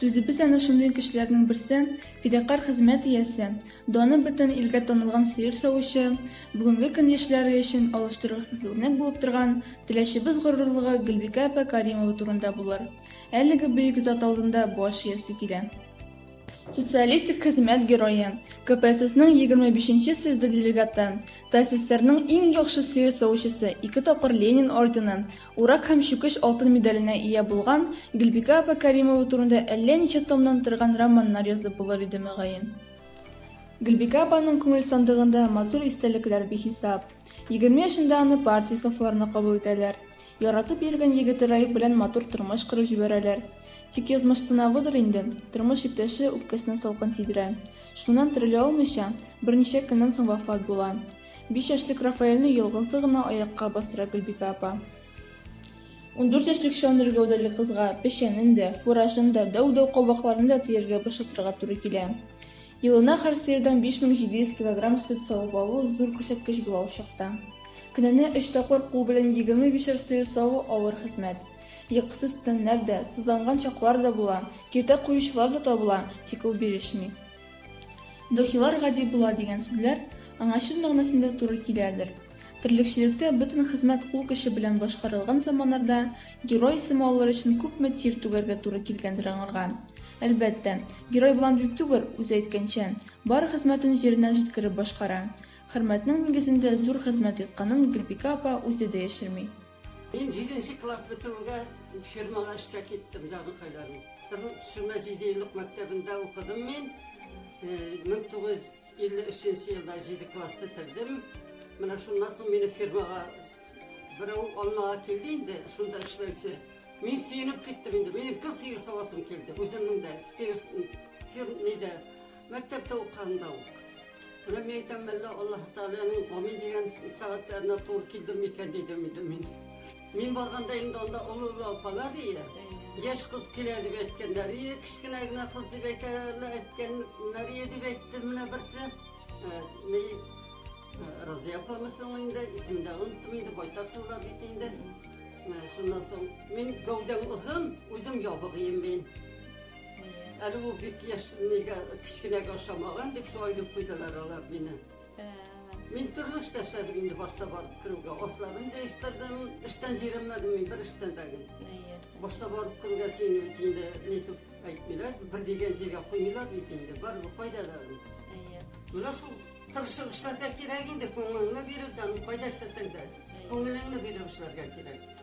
Сүзебез әнә шундый кешеләрнең берсе, фидакарь хезмәт иясе, даны бөтен илгә танылган сыер савучы, бүгенге көн яшьләре өчен алыштыргысыз үрнәк булып торган Теләчебез горурлыгы Гөлбикә апа Кәримова турында булыр. Әлеге бөек зат алдында баш иясе килә. Социалистик хезмәт герое, КПССның егерме бишенче съезды делегаты, ТАССРның иң яхшы сыер савучысы, ике тапкыр Ленин ордены, Урак һәм чүкеч алтын медаленә ия булган Гөлбикә апа Кәримова турында әллә ничә томнан торган романнар язып булыр иде, мөгаен. Гөлбикә апаның күңел сандыгында матур истәлекләр бихисап. Егерме яшендә аны партия сафларына кабул итәләр. Яратып йөргән егете Раиф белән матур тормыш корып җибәрәләр. Тик язмыш сынавыдыр инде, тормыш иптәше үпкәсенә салкын тидерә. Шуннан терелә алмыйча, берничә көннән соң вафат була. Биш яшьлек Рафаэльне ялгызы гына аякка бастыра Гөлбикә апа. Ундүрт яшьлек чандыр гәүдәле кызга печәнен дә, фуражын да, дәү-дәү кабакларын да тияргә бушатырга туры килә. Елына һәр сыердан 5700 килограмм сөт савып алу зур күрсәткеч була ул чакта. Көненә өч тапкыр кул белән егерме бишәр сыер саву авыр хезмәт. Йокысыз төннәр дә, сызланган чаклар да була, киртә куючылар да табыла, тик ул бирешми. Духилар гади була дигән сүзләр аңа чын мәгънәсендә туры киләдер. Терлекчелектә бөтен хезмәт кул көче белән башкарылган заманнарда герой исеме алыр өчен күпме тир түгәргә туры килгәндер аңарга. Әлбәттә, герой болан дип түгел, үзе әйткәнчә, бар хезмәтен җиренә җиткереп башкара. Хөрмәтнең нигезендә зур хезмәт ятканын Гөлбикә апа үзе дә яшерми. Мин җиденче класс бетүгә фирмага эшкә киттем, җаныкайларым. Сүмә җиде еллык мәктәбендә укыдым мин. 1953 э, елда җиде класс бетердем. Менә шуннан соң мине фирмага берәү алмага килде инде, шунда эшләүче. Мин сөенеп киттем инде, минем кыз сыер савасым килде, үземнең дә сыер фирм нидә Мәктәптә укыганда ук. Менә мин әйтәм, әллә Аллаһы Тәгаләнең амин дигән сәгатьләренә туры килдем микән, дидем инде мин. Мин барганда инде анда олы-олы апалар ие, яшь кыз килә дип әйткәннәр ие, кечкенә генә кыз дип әйтәләр, әйткәннәр ие, дип әйтте менә берсе. Ни, Разыя апамы соң инде, исемен дә оныттым инде, байтак еллар бит инде. Шуннан соң, мин гәүдәм озын, үзем ябык ием мин. Әле ул бик яшь, нигә кечкенәгә ошамаган дип шулай дип куйдылар алар мине. Мин төрле эштә эшләдем инде башта барып керүгә. Асларын җыештырдым, эштән җыйрылмадым мин бер эштән дә гел. Башта барып керүгә сине бит инде нитеп әйтмиләр, бер дигән җиргә куймыйлар бит инде, барыбер кайда да. Менә шул тырышып эшләргә кирәк инде, күңелеңне биреп, җаным, кайда эшләсәң дә, күңелеңне биреп эшләргә кирәк.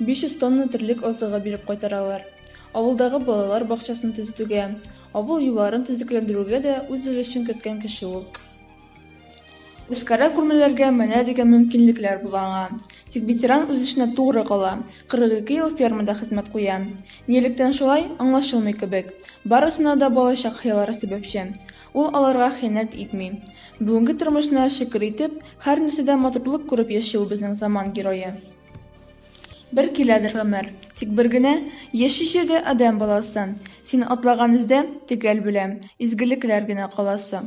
500 тонна терлек азыгы биреп кайтаралар. Авылдагы балалар бакчасын төзетүгә, авыл юлларын төзекләндерүгә дә үз өлешен керткән кеше ул. Үзкара күрмәләргә менә дигән мөмкинлекләр була аңа. Тик ветеран үз эшенә тугры кала, 42 ел фермада хезмәт куя. Нилектән шулай, аңлашылмый кебек. Барысына да балачак хыяллары сәбәпче. Ул аларга хыянәт итми. Бүгенге тормышына шөкер итеп, һәр нәрсәдә матурлык күреп яши ул безнең заман герое. Бер киләдер гомер, тик бер генә Яши җирдә адәм баласы. Син атлаган эздә, төгәл беләм, Изгелекләр генә каласы.